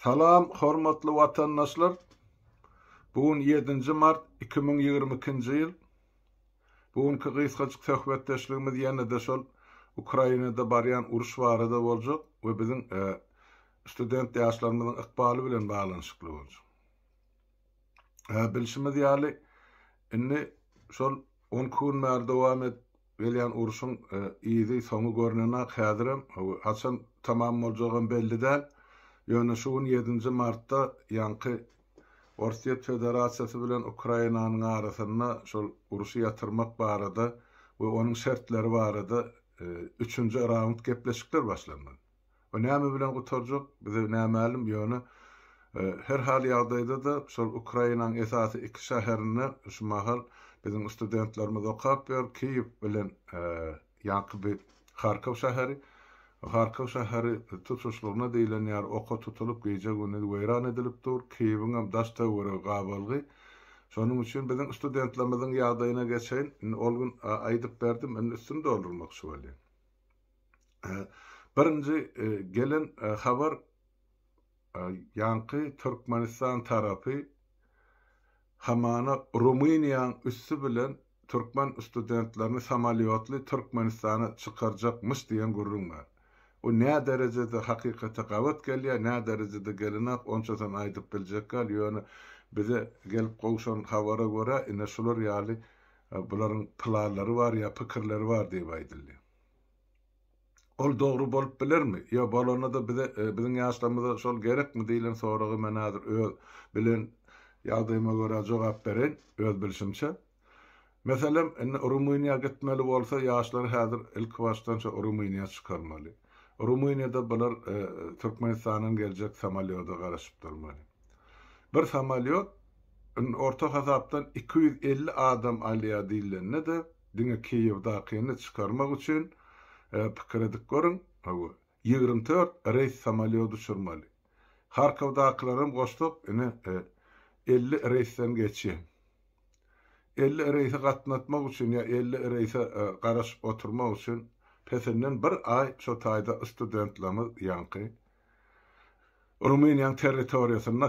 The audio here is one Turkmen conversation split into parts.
Salam hormatly watandaşlar. Bu gün ýedinji mart iki müň ýigrimi ikinji ýyl. Bu günki gysgajyk söhbetdeşligimiz ýene-de şol Ukrainada barýan uruş barada boljak we biziň e, student ýaşlarymyzyň ykbaly bilen baglanyşykly boljak. Bilşimiz ýaly, indi şol on iki gün bäri dowam edip gelýän urşuň yzy, soňy görnenok. Häzirem haçan tamam boljagam belli däl. Ýöne şu gün ýedinji martda ýaňky Orsýet Federasiýasy bilen Ukrainanyň arasynda şol urşy ýatyrmak barada we onuň şertleri barada üçünji raund gepleşikler başlandy. O näme bilen gutarjak, bize nämälim, ýöne her hal ýagdaýda-da şol Ukrainaň esasy iki şäherinde şu mahal biziň studentlerimiz okap ýör, Kiýew bilen ýaňky bir Harkow şäheri. Harkow şäheri tutuşlygyna diýlen ýaly oka tutulyp, gije-gündiz weýran edilip dur, Kiýewiňem daş-töweregi gabalgy. Şonuň üçin biziň studentlerimiziň ýagdaýyna geçeýin. Indi ol gün aýdyp berdim, indi üstüni doldurmakçy bolýan. Birinji gelen habar ýaňky Türkmenistan tarapy hamana Rumyniýaň üsti bilen türkmen studentlerini samolýotly Türkmenistana çykarjakmyş diýen gürrüň bar. Bu nä derejede hakykata gabat gelýär, nä derejede gelenok, onçasyn aýdyp biljek däl, ýöne bize gelip gowşan habara görä, ine şular ýaly Bularyň planlary bar ýa pikirleri bar diýip aýdyldy. Ol dogry bolup bilermi? Ýa bolanda-da bize, biziň ýaşlarymyza şol gerekmi diýlen soraga men häzir öz bilen ýagdaýyma görä jogap bereýin, öz bilşimçe. Meselem, indi Rumyniýa gitmeli bolsa, ýaşlary häzir ilkibaşdan şo Rumyniýa çykarmaly. Rumyniýada bular Türkmenistandan geljek samolýoda garaşyp durmaly. Bir samolýot orta hasapdan iki ýüz elli adam alýar diýlende-de, diňe Kiýewdakyny çykarmak üçin pikir edip görüň, hawa, ýigrimi dört reýs samolýot uçurmaly. Harkowdakylaram goşsak, ine, elli reýsden geçýär. Elli reýse gatnatmak üçin ýa elli reýse garaşyp oturmak üçin, pesinden bir aý şo taýda studentlerimiz ýaňky Rumyniýanyň territoriýasynda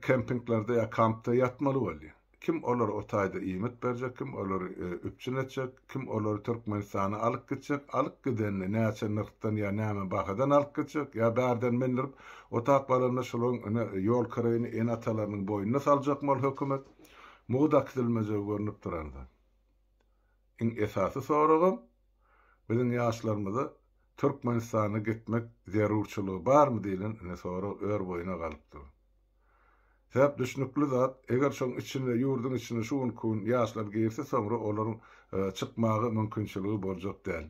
kempinglerde ýa kampda ýatmaly boldy. Kim olara o taýda iýmit berjek, kim olary üpjün etjek, kim olary Türkmenistana alyp gitjek, alyp gidenini näçe nyrhdan ýa näme bahadan alyp gitjek, ýa bärden mindirip otap galanda şolaryň ine ýol kireýini ene-atalarynyň boýnuna saljakmy ol hökümet? Mugy dakdilmejegi görnüp duran zat. Iň esasy soragym, biziň ýaşlarymyza Türkmenistana gitmek zerurçylygy barmy diýlen ine sorag örboýuna galyp dur. Sebäp düşnükli zat, eger şoň içine, ýurduň içine şu günki gün ýaşlar girse soňra olaryň çykmaga mümkinçiligi boljak däl.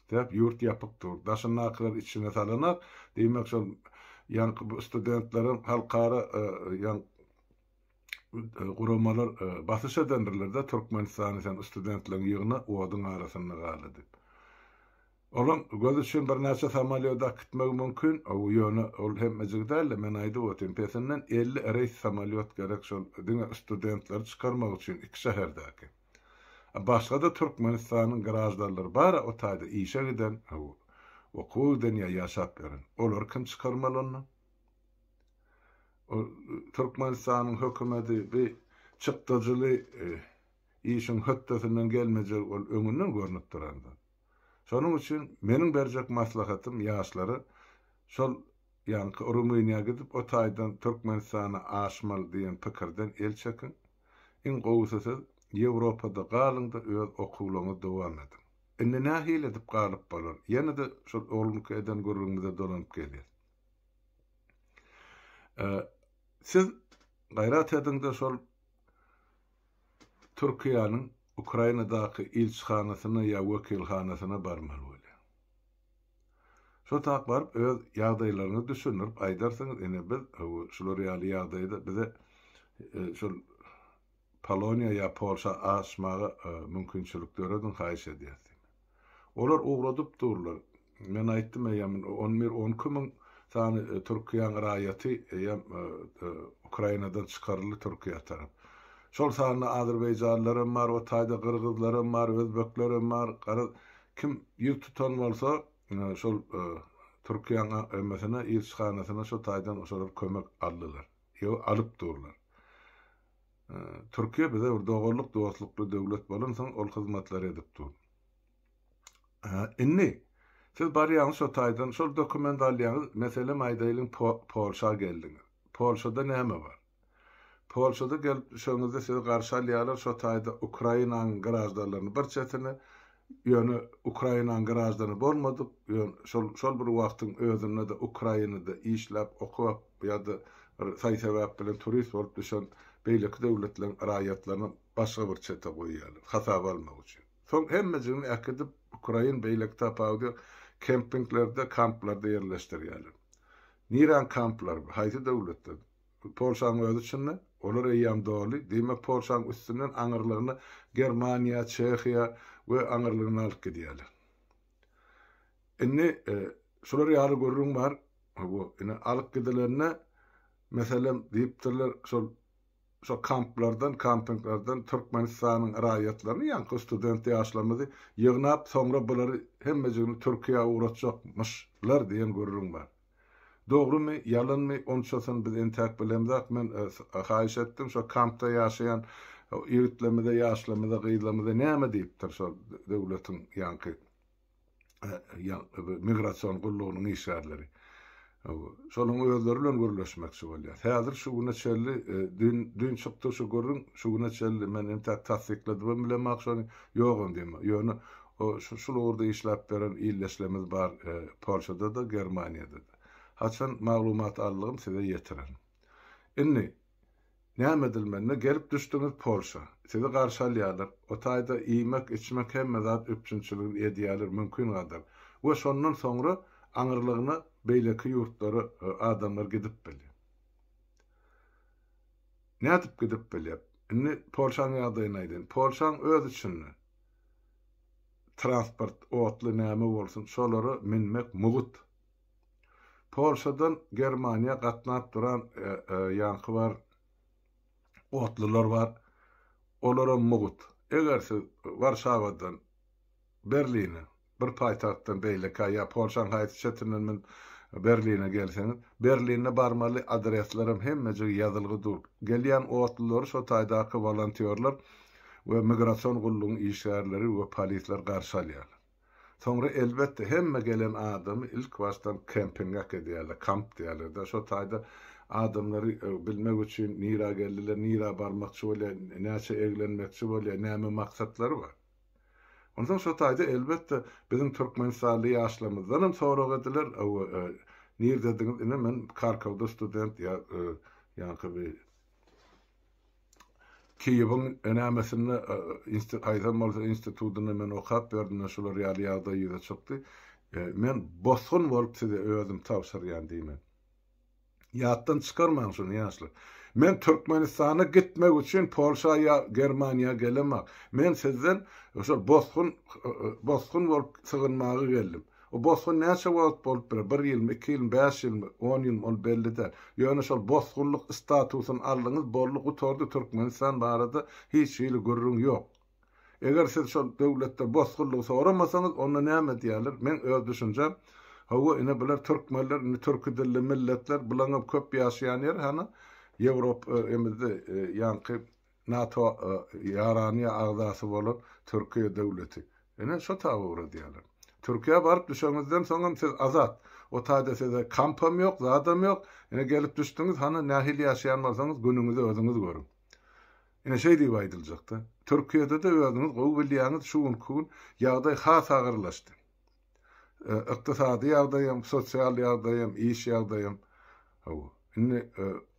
Sebäp ýurt ýapyk dur. Daşyndakylar içine salanak, diýmek şol ýaňky bu studentleriň halkara ýa guramalar basyş edendirler-de, Türkmenistany sen studentleň ýygna, oduň arasynda gala diýip. Olaň göz üçin birnäçe samolýot akitmegi mümkin, ýöne ol hemmejigi däl-de, men aýdyp otyryn, pesinden elli reýs samolýot gerek şol diňe studentleri çykarmak üçin iki şäherdäki. Başga-da Türkmenistanyň graždanlary bar-a o taýda işe giden, okuwa giden ýa ýaşap ýören. Olary kim çykarmaly onda? Türkmenistanyň hökümeti bi çykdajyly işiň hötdesinden gelmejegi ol öňünden görnüp duran zat. Şonuň üçin meniň berjek maslahatym ýaşlara şol ýaňky Rumyniýa gidip o taýdan Türkmenistana aşmaly diýen pikirden el çekiň. Iň gowusy siz Ýewropada galyňda öz okuwlaňyzy dowam ediň. Indi nähili edip galyp bolar? Ýene-de şol oglumky eden gürrüňimize dolanyp gelýäs. Siz gaýrat ediňde şol Türkiýäniň Ukrainadaky ilçihanasyna ýa wekilhanasyna barmaly bolýar. Şo tak baryp öz ýagdaýlaryňyzy düşündirip aýdarsyňyz ine biz şular ýaly ýagdaýda bize şol Poloniýa ýa Polşa aşmaga mümkinçilik dörediň haýyş edýäs diýip. Olar ugradyp durlar. Men aýtdym, eýýäm on bir, on iki müň sany Türkiýäň raýaty eýýäm Ukrainadan çykaryldy Türkiýä tarap. Şol sanda azerbaýjanlylar hem bar, o taýda gyrgyzlar hem bar, özbekler hem bar. Garaz, kim ýüz tutan bolsa, şol Türkiýäň emesine, ilçihanasyna şo taýdan şolar kömek aldylar. Ýa-da alyp durlar. Türkiýe bize bir doganlyk, dostlukly döwlet bolansoň, ol hyzmatlary edip dur. Indi siz barýaňyz şo taýdan, şol dokument alýaňyz, meselem aýdaýlyň Polşa geldiňiz. Polşada näme bar? Polşada gelip düşeňizde sizi garşy alýarlar, şo taýda Ukrainanyň graždanlaryny bir çetine, Ýöne Ukrainanyň graždany bolmadyk, ýön şol şol bir wagtyň özünde-de Ukrainada işläp, okap ýa-da bir saý-sebäp bilen turist bolup düşen beýleki döwletleriň raýatlaryny başga bir çete goýýarlar, hasaba almak üçin. Soň hemmejigini äkidip, ukrain beýleki tapawudy ýok, kempinglerde, kamplarda ýerleşdirýärler. Niräň kamplary bu? Haýsy döwletde? Bu Polşanyň özi çynda, olar eýýäm doly, diýmek Polşanyň üstünden aňyrlygyna Germaniýa, Çehiýa we aňyrlygyna alyp gidýärler. Indi şular ýaly gürrüň bar, bu ine alyp gidilende meselem diýipdirler şol şo kamplardan, kampinglerden Türkmenistanyň raýatlaryny ýaňky student ýaşlarymyzy ýygnap soňra bulary hemmejigini Türkiýä ugratjakmyşlar diýen gürrüň bar. Dogrymy, ýalanmy, onçasyny biz entäk bilemzok, men haýyş etdim, şo kampda ýaşaýan ýigitlerimize, ýaşlarymyza, gyzlarymyza näme diýipdir şo döwletiň ýaňky migrasion gullugynyň işgärleri. Şolaryň özleri bilen gürleşmekçi bolýas. Häzir şu güne çenli, dün, dün çykdy şu gürrüň, şu güne çenli men entäk tassykladybam bilemok şony, ýogam diýemok. Ýöne Şul ugurda işläp beren ildeşlerimiz bar Polşada-da, Germaniýada-da. Haçan maglumat aldygym size ýetirerin. Indi, näme edilmende gelip düşdüňiz Polşa. Sizi garşy alýarlar. O taýda iýmek, içmek hemme zat üpjünçiligini edýärler mümkin gadar. We şondan soňra aňyrlygyna beýleki ýurtlara adamlar gidip bilýär. Nädip gidip bilýär? Indi Polşaň ýagdaýyny aýdaýyn. Polşaň öz içinde transport otly näme bolsun şolara münmek mugt. Polşadan Germaniýa gatnap duran ýaňky bar otlular bar olaram mugt. Eger siz Warşawadan Berline Bir paýtagtdan beýlekä ýa Polşaň haýsy çetinden men Berline gelseňiz, Berlinde barmaly adreslerem hemmejigi ýazylgy dur. Gelýän otlulary şo taýdaky wolontýorlar we migrasion gullugyň işgärleri we polisler garşy alýarlar. Soňra elbetde hemme gelen adamy ilkibaşdan kempinge äkidýärler, kamp diýerler-dä şo taýda adamlary bilmek üçin nirä geldiler, nirä barmakçy bolýar, näçe eglenmekçi bolýar, näme maksatlary bar. Onsoň şo taýda elbetde biziň türkmenistanly ýaşlarymyzdanam sorag ediler, Hawa, nirdediňiz ine men Karkowda student ýa ýaňky bi Kiýewiň nämesinde insti haýsam bolsa institutynda men okap berdim-de şular ýaly ýagdaý ýüze çykdy. Men bosgun bolup size özüm tabşyrýan diýmek. Ýatdan çykarmaň şuny ýaşlar. Men Türkmenistana gitmek üçin Polşa ýa Germaniýa gelemok. Men sizden şol bosgun bosgun bolup sygynmaga geldim. O bosgun näçe wagt bolup biler? Bir ýylmy, iki ýylmy, bäş ýylmy, on ýylmy ol belli däl. Ýöne şol bosgunlyk statusyny aldyňyz boldy gutardy Türkmenistan barada hiç hili gürrüň ýok. Eger siz şol döwletde bosgunlygy soramasaňyz, onda näme diýerler? Meň öz düşünjem, Hawa, ine, bular türkmenler, indi türki dilli milletler, bulaňam köp ýaşaýan ýer, hany, Ýewrop, e, emizde, e, ýaňky NATO, e, ýaranyýa agzasy bolan Türkiýe döwleti. Ine, şo taba ugradýarlar. Türkiýä baryp düşeňizden soňam siz azat. O taýda size kampam ýok, zadam ýok. Ine, gelip düşdüňiz, hany, nähili ýaşaýan bolsaňyz, günüňizi özüňiz görüň. Ine şeý diýip aýdyljakda. Türkiýede-de özüňiz gowy bilýäňiz şu günki gün ýagdaý has agyrlaşdy. Ykdysady ýagdaýam, sosial ýagdaýam, iş ýagdaýam. Hawa. Indi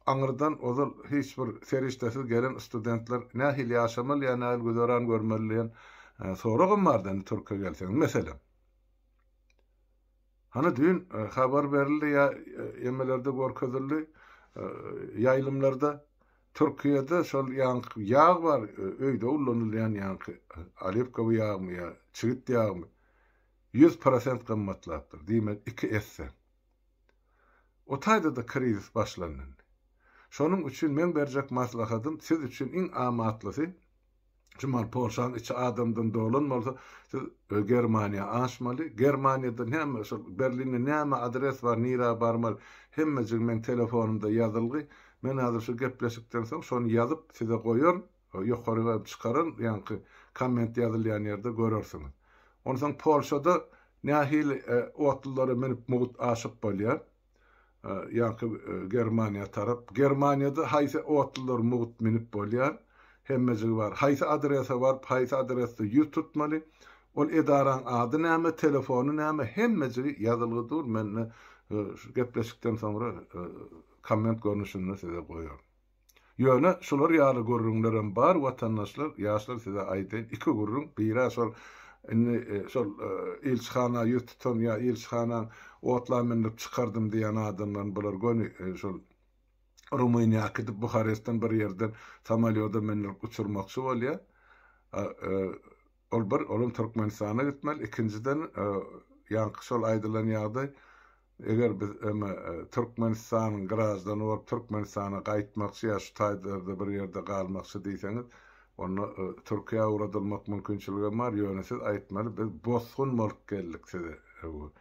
aňyrdan ozal hiç bir serişdesiz gelen studentler nähili ýaşamaly ýa nähili güzeran görmeli diýen soragam bardy indi Türkiýe gelseňiz. Meselem. Hany düýn habar berildi ýa emelerde görkezildi ýaýlymlarda Türkiýede şol ýaňky ýag bar öýde ullanylýan ýaňky olivkowy ýagmy ýa çigit ýagmy ýüz prosent gymmatlapdyr diýmek iki esse. O taýdada krizis başlandy indi. Şonuň üçin meň berjek maslahatym siz üçin iň amatlysy Şumal Polşanyň içi adamdan dolan bolsa, siz Germaniýa aşmaly. Germaniýada näme şol Berlinde näme adres bar, nirä barmaly? Hemmejigi meň telefonymda ýazylgy. Men häzir şu gepleşikden soň şony ýazyp size goýaryn. Ýokary hem çykararyn, ýaňky komment ýazylýan ýerde görersiňiz. Onsoň Polşada nähili otlylara münüp mugt aşyk bolýar? ýaňky Germaniýa tarap. Germaniýada haýsy otlular mugt minip bolýar? Hemmejigi bar. Haýsy adrese baryp, haýsy adresde ýüz tutmaly? Ol edaraň ady näme, telefony näme? Hemmejigi ýazylgy dur, men-de şu gepleşikden soňra komment görnüşinde size goýaryn. Ýöne şular ýaly gürrüňlerem bar watandaşlar ýaşlar size aýdaýyn iki gürrüň birä şol indi şol ilçihana ýüz tutan ýa ilçihana otla mündirip çykardym diýýän adamlaryň bular göni şol Rumyniýa äkidip Buharestden bir ýerden samolýoda mündirip uçurmakçy bolýar ol bir olam Türkmenistana gitmeli ikinjiden ýaňky şol aýdylan ýagdaý Eger biz öňe Türkmenistanyň graždany bolup Türkmenistana gaýtmakçy ýa şu taýlarda bir ýerde galmakçy diýseňiz, onda Türkiýä ugradylmak mümkinçiligem bar, ýöne siz aýtmaly biz bosgun bolup geldik size bu.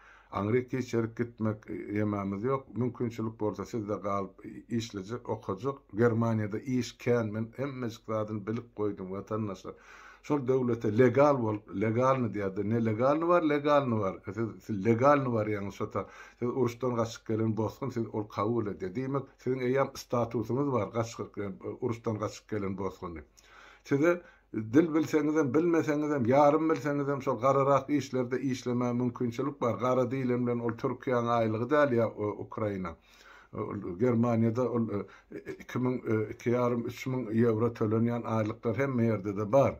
Aňryk geçerip gitmek ýemamiz ýok, mümkinçilik bolsa sizde galyp işlejek, okajak, Germaniýada iş kän men hemmejik zadyny bilip goýdum watandaşlar. Şol döwlete legal bolup, legalny diýýärdi. Nelegalny bar, legalny bar. Siz, siz legalny barýaňyz şota. Siz uruşdan gaçyp gelen bosgun, siz ol kabul edýär. Diýmek, siziň eýýäm statusyňyz bar, gaç, uruşdan gaçyp gelen bosgun diýip. Size dil bilseňizem, bilmeseňizem, ýarym bilseňizem şol gararak işlerde işlemäge mümkinçilik bar. Gara diýilen bilen ol Türkiýäň aýlygy däl ýa Ukraina. Ol Germaniýada ol iki müň, iki ýarym, üç müň ýewro tölenýän aýlyklar hemme ýerde-de bar.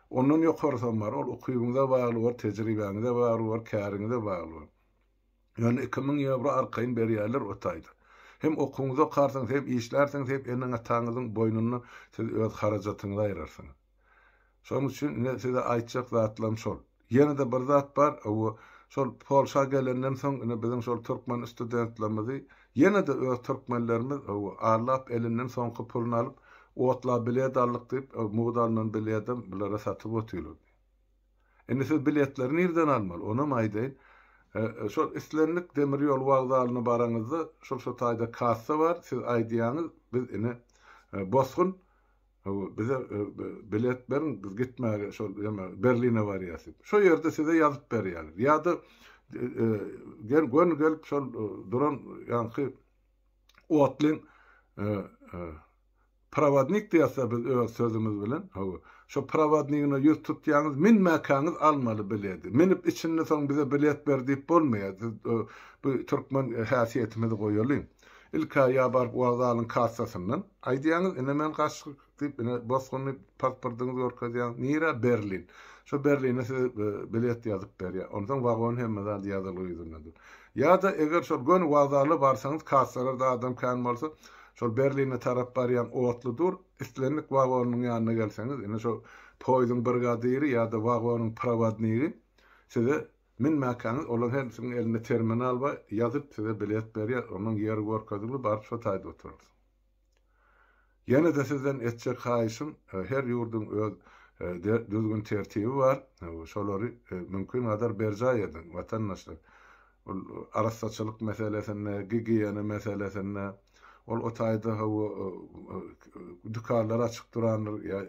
Ondan ýokarysam bar. Ol ukybyňyza bagly bor, tejribäňize bagly bor, käriňize bagly bor. Ýöne iki müň ýewro arkaýyn berýärler o taýda. Hem okuwyňyzy okarsyňyz, hem işlärsiňiz, hem eneň-ataňyzyň boýnundan siz öz harajatyňyzy aýrarsyňyz. Şonuň üçin ine size aýtjak zatlarym şol. Ýene-de bir zat bar, bu şol Polşa gelenden soň ine biziň şol türkmen studentlerimizi ýene-de öz türkmenlerimiz arlap elinden soňky puluny alyp, otla bilet aldyk diýip, mugt alnan biledem bulara satyp otyrlar. Indi siz biletleri nirden almaly, onam aýdaýyn. Şol islendik demir ýol wokzalyna baraňyzda, şol şu taýda kassa bar, siz aýdýaňyz, biz ine Bosgun Hawa, bize bilet beriň, biz gitmäge şol ýene Berline barýas diýip. Şo ýerde size ýazyp berýäler. Ýa-da gel göni gelip şol duran ýaňky otlyň prowodnik diýäsde biz öz sözümiz bilen, hawa, şo prowodnigine ýüz tutýaňyz, minmäkäňiz almaly bileti. Minip içinde soň bize bilet ber diýip bolmaýar. Bu türkmen häsiýetimizi goýalyň. Ilk-ä ýa baryp wokzalyň kassasyndan aýdýaňyz, ine men gaçdyk diýip, ine bosgunly pasportyňyzy görkezýäňiz, nirä, Berlin. Şo Berline size bilet ýazyp berýär. Onsoň wagon hemme zady ýazylgy ýüzünde dur. Ýa-da eger şol göni wokzala barsaňyz, kassalarda adam kän bolsa, şol Berline tarap barýan otly dur, islendik wagonyň ýanyna gelseňiz, ine şo poýzuň brigadiri ýa-da wagonyň prowodnigi size Münmäkäňiz olaň hersiniň elinde terminal bar, ýazyp size bilet berýär, onuň ýeri görkezildi, baryp şo taýda oturarsyň. Ýene-de sizden etjek haýyşym, her ýurduň öz düzgün-tertibi bar, şolary mümkingadar berjaý ediň, watandaşlar. Ol arassaçylyk meselesinde, gigiýena meselesinde. Ol o taýda hawa dükanlar açyk durandyr, ýa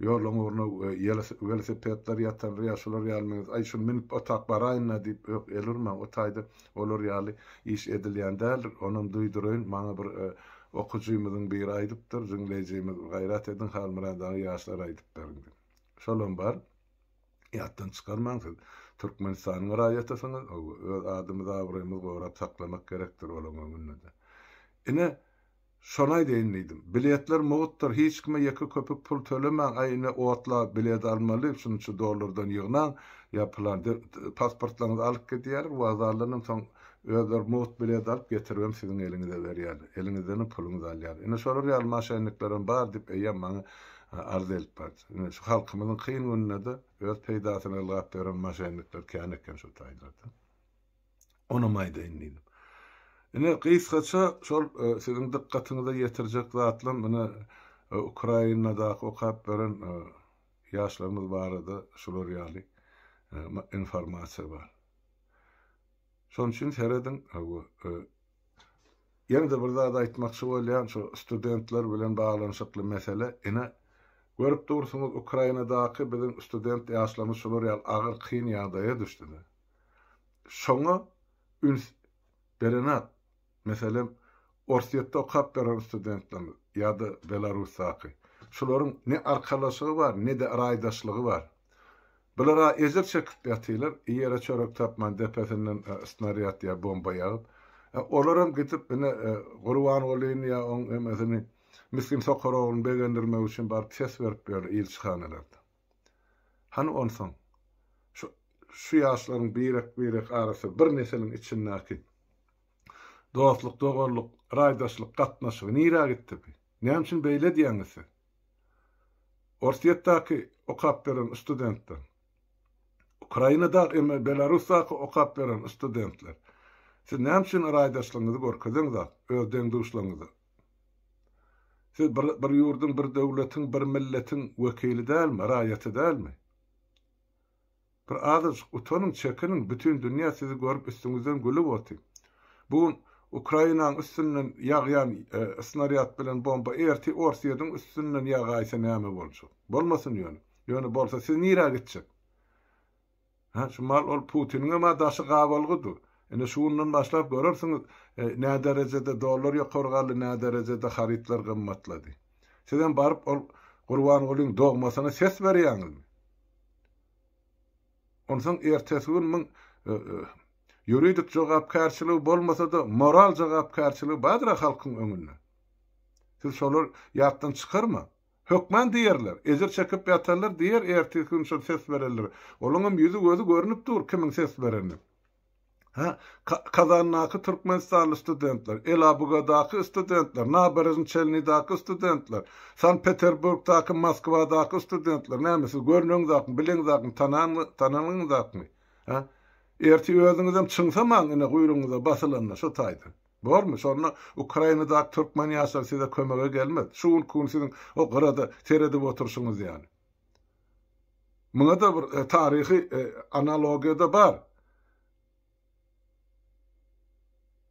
ýoluň ugruna welosipedler ýatandyr, ýa şular ýaly meňzeş. Aý, şuny münüp otap baraýyn-da diýip, ýok, el urmaň, o taýda olar ýaly iş edilýän däldir. Onam duýduraýyn, maňa bir okyjymyzyň biri aýdypdyr, jüňleýjimiz, Gaýrat ediň, Halmyrat aga, ýaşlara aýdyp beriň diýip. Şolam bar. Ýatdan çykarmaň siz Türkmenistanyň raýatysyňyz hawa öz adymyz abraýymyz gorap saklamak gerekdir olaň öňündede. Ine şony aýdaýyn diýdim. Biletler mugtdyr hiç kime ýeke köpük pul tölemäň aý ine otla bilet almaly şunça dollardan ýygnaň ýa pylan pasportlaryňyzy alyp gidýärler wokzaldanam soň özleri mugt bilet alyp getiribem siziň eliňize berýärler eliňizdenem puluňyzy alýarlar ine şolar ýaly maşenniklerem bar diýip eýýäm maňa arz edip bardy. Ine, şu halkymyzyň kyn gününde-de öz peýdasyna ylgap ýören moşennikler kän eken şu taýlarda. Onam aýdaýyn diýdim. Ine, gysgaça şol siziň dykgatyňyza ýetirjek zatlam ine Ukrainadaky okap beren ýaşlarymyz barada şular ýaly informasiýa bar. Şonuň üçin serediň, Ýene-de bir zat aýtmakçy bolýan, şu studentler bilen baglanyşykly mesele. Ine, görüp dursuňyz, Ukrainadaky biziň student ýaşlarymyz şular ýaly agyr, kyn ýagdaýa düşdüde. Şoňa üns berenok. Meselem, Orsýetde okap beren studentlerimiz ýa-da Belarusdaky. Şularyň ne arkalaşygy bar, ne-de raýdaşlygy bar. Bular-a ejir çekip ýatylar, iýere çörek tapman depesinden snarýad ýa bomba ýagyp. Olaram gidip ine Gurbangulyny ýa oň emesini misgin sokar ogluny begendirmek üçin baryp ses berip ýörler ilçihanalarda. Hany onsoň şu şu ýaşlaryň birek-birek arasy bir nesiliň içindäki dostluk-doganlyk, raýdaşlyk gatnaşygy nirä gitdi bi? Näme üçin beýle diýýäňiz siz? Orsýetdäki okap beren studentler. Ukrainada emme Belarusdaky okap beren studentler. Siz näme üçin raýdaşlygyňyzy görkezeňzak öz deň-duşlaryňyza? Siz bir bir ýurduň, bir döwletiň, bir milletiň wekili dälmi, raýaty dälmi? Bir azajyk utanyň, çekiniň, bütin dünýä sizi görüp üstüňizden gülüp oty. Bu gün Ukrainaň üstünden ýagýan snarýad bilen bomba erti Orsýediň üstünden ýagaýsa näme boljak? Bolmasyn ýöne. Ýöne bolsa siz nirä gitjek? Hä, şu mal ol Putiniňem-ä daşy gabalgy dur. Ine şu günden başlap görersiňiz nä derejede dollar ýokary galdy, nä derejede harytlar gymmatlady. Sizem baryp ol Gurbangulyň dogmasyna ses berýäňizmi? Onsoň ertesi gün muň ýuridik jogapkärçiligi bolmasa-da, moral jogapkärçiligi bardyr-a halkyň öňünde. Siz şolary ýatdan çykarmaň. Hökman diýerler, ejir çekip ýatanlar diýer ertesi gün şol ses berenler. Olaňam ýüzi-gözi görnüp dur kimiň ses berenini. Hä, Kazandaky türkmenistanly studentler, Elabugadaky studentler, Naberezn-Çelnidaky studentler, Sankt-Peterburgdaky, Moskwadaky studentler, näme siz görneňizakmy, bileňizakmy, tananyňyzakmy? Hä? Ertir özüňizem çyňsamaň ine guýrugyňyza basylanda şo taýdan. Bormy? Şonda Ukrainadaky türkmen ýaşlary size kömege gelmez. Şu günki gün siziň o gyrada seredip oturşyňyz ýaly. Muňa-da bir taryhy analogiýa-da bar.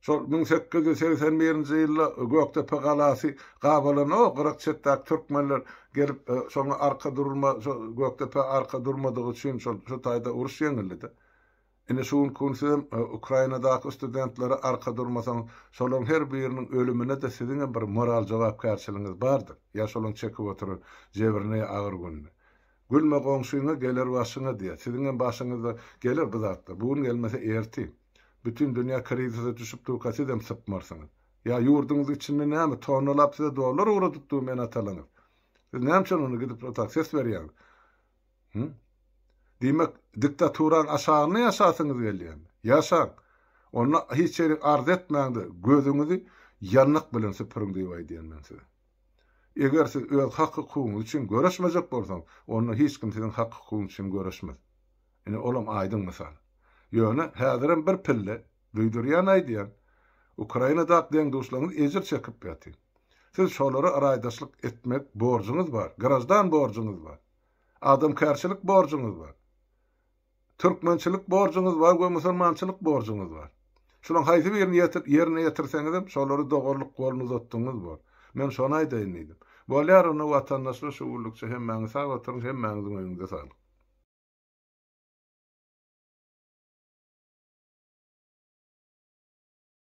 Şol müň sekiz ýüz segsen birinji ýylda Gökdepe galasy gabalanda, o gyrak çetdäki türkmenler gelip, şoňa arka durma, şo Gökdepä arka durmadygy üçin şol şu taýda uruş ýeňildi-de. Indi şu günki gün sizem Ukrainadaky studentlere arka durmasaňyz, şolaryň her biriniň ölümine-de siziňem bir moral jogapkärçiligiňiz bardyr, ýa şolaryň çekip oturan jebrine ýa agyr gününe. Gülme goňşyňa, geler başyňa diýýär. Siziňem başyňyza geler bu zatlar. Bu gün gelmese ertir. Bütin dünýä krizise düşüp durka sizem sypmarsyňyz. Ýa ýurduňyzyň içinde näme, tonnalap size dollar ugradyp durmy ene-atalaryňyz? Siz näme üçin onda gidip otag ses berýäňiz? Hü? Diýmek, diktaturanyň aşagynda ýaşasyňyz gelýärmi? Ýaşaň! Onda hiç ýerik arz etmäň-de, gözüňizi ýanlyk bilen süpüriň diýip aýdýan men size. Eger siz öz hak-hukugyňyz üçin göreşmejek bolsaňyz, onda hiç kim siziň hak-hukugyňyz üçin göreşmez. Ine, olam aýdyň mysal. Ýöne häzirem bir pille, duýdurýan aýdýan, Ukrainadaky deň-duşlaryňyz ejir çekip ýatyň. Siz şolara raýdaşlyk etmek borjuňyz bar, graždan borjuňyz bar. Adamkärçilik borjuňyz bar. Türkmençilik borjuňyz bar we musulmançylyk borjuňyz bar. Şulaň haýsy birini ýerine ýetirseňizem, şolary dogrulyk golun uzatdygyňyz bor. Men şony aýdaýyn diýdim. Bolýar onda watandaşlar şu günlükçe hemmäňiz sag oturyň, hemmäňiziň öýüňize saglyk.